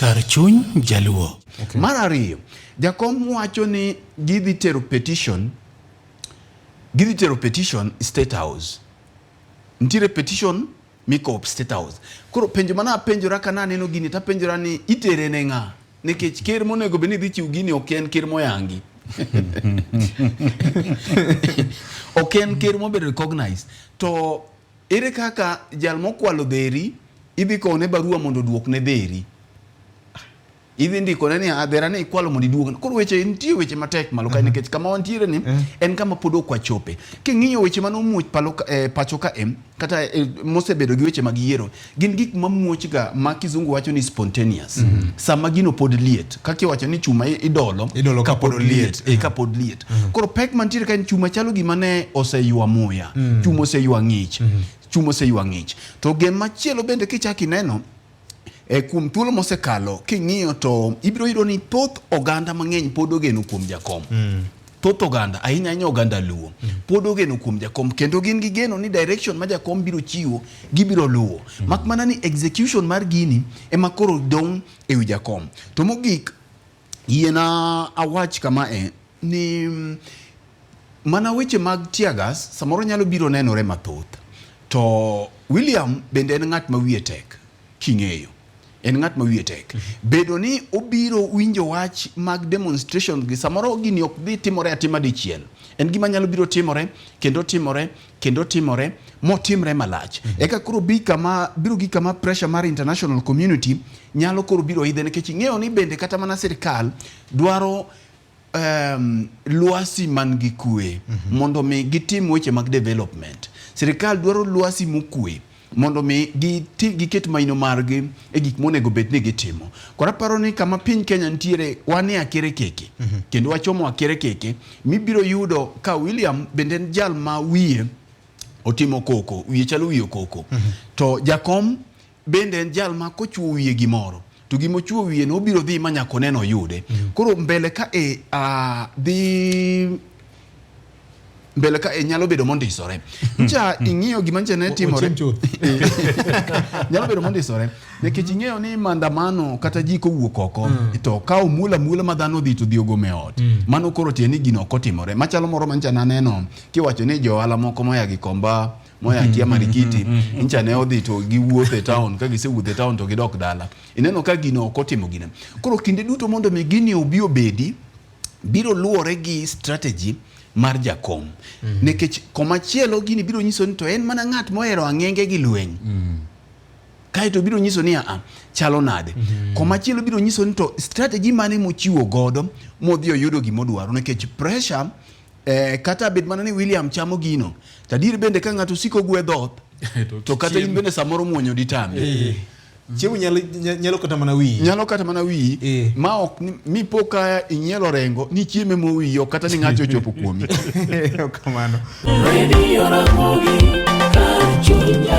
Kar chuny jaluo. Okay. Mar ariyo, jakom wacho ni gidhi tero petition, gidhi tero petition State House. Nitiere petition mikop State House. Koro penjo mana apenjora ka naneno gini tapenjora ni itere ne ng'a? Nikech ker monego bed ni dhi chiw gini ok en ker moyangi. ok en ker mobedo recognized to Ere kaka jal mokwalo dheri idhi kowne barua mondo oduokne dheri? idhi ndikone ni adhera ni ikwalo mondo iduog koro weche nitie weche matek malo kae mhm. nikech kama wantiere ni mhm. en kama pod ok wachope king'iyo weche mane omuoch palo eh, pacho ka em kata eh, mosebedo gi weche mag yiero gin gik mamuochga ma kizungu wacho ni spontaneous mm -hmm. sama gino pod liet kaka iwacho ni chuma idolo, idolo kapod liet e, kapod liet mm -hmm. koro pek mantiere ka en chuma chalo gima ne oseywa muya mm -hmm. chuma oseywa ng'ich mm -hmm. chuma oseywa ng'ich to gen machielo bende kichaki neno e kuom thuolo mosekalo king'iyo to ibiro yudo ni thoth oganda mang'eny pod ogeno kuom jakom mm -hmm. thoth oganda ahinya ahinya oganda luo mm. pod ogeno kuom jakom kendo gin gi geno ni direction ma jakom biro chiwo gibiro luwo mm. mak mana ni execution mar gini ema koro dong' e wi jakom to mogik yiena awach kama e ni mm, mana weche mag tiagas samoro nyalo biro nenore mathoth to William bende en ng'at ma wiye tek king'eyo en ng'at ma wiye tek. Bedo ni obiro winjo wach mag demonstration gi samoro gini ok dhi timore atima dichiel. En gima nyalo biro timore kendo timore kendo timore motimre malach. Mm -hmm. Eka koro bi kama biro gi kama pressure mar international community nyalo koro biro idhe nikech ing'eyo ni bende kata mana sirkal dwaro um, lwasi man gi kue mm -hmm. mondo mi gitim weche mag development. Sirikal dwaro lwasi mokue mondo mi giti giket maino margi e gik monego bed ni gitimo. Koro aparo ni kama piny Kenya nitiere wan e akere keke mm -hmm. kendo wachomo akere keke mibiro yudo ka William bende en jal ma wiye otimo koko, wiye chalo wiye koko mm -hmm. to jakom Bende en jal ma kochwo wiye gimoro to gima ochuo wiye no obiro dhi ma nyaka oneno oyude. Mm. Koro mbele ka e a dhi mbele ka e nyalo bedo mondisore. Ncha mm. ing'iyo gima nche ne timore. Nyalo bedo mondisore. Nikech ing'eyo ni maandamano kata ji kowuok oko mm. to ka omula mula ma dhano dhi to dhi ogome ot. Mano koro tiende ni gino ok otimore. Machalo moro ma ncha naneno kiwacho ni jo ohala moko moya Gikomba moya akia marikiti ncha ne odhi to giwuotho e town ka gisewuotho e town to gidok dala ineno ka gino ok otimo gine koro kinde duto mondo mi gini obi obedi biro luwore gi strategy mar jakom mm -hmm. nikech komachielo gini biro nyiso ni to en mana ng'at mohero ang'enge gi lweny mm -hmm. kaeto biro nyiso ni aa chalo nade mm -hmm. komachielo biro nyiso ni to strategy mane mochiwo godo modhi oyudo gimodwaro nikech pressure Eh, kata bed mana ni William chamo gino, tadier bende ka ng'ato siko gwe dhoth to kata in bende samoro muonyo ditambi. Eh. Chiemo nyalo nyalo kata mana wiyi. Nyalo kata mana wiyi eh. ma ok mi poka inyelo rengo ni chieme mo wiyi ok kata ni ng'ato ochopo kuomi. Kamano. Radio Ramogi, Kachunya.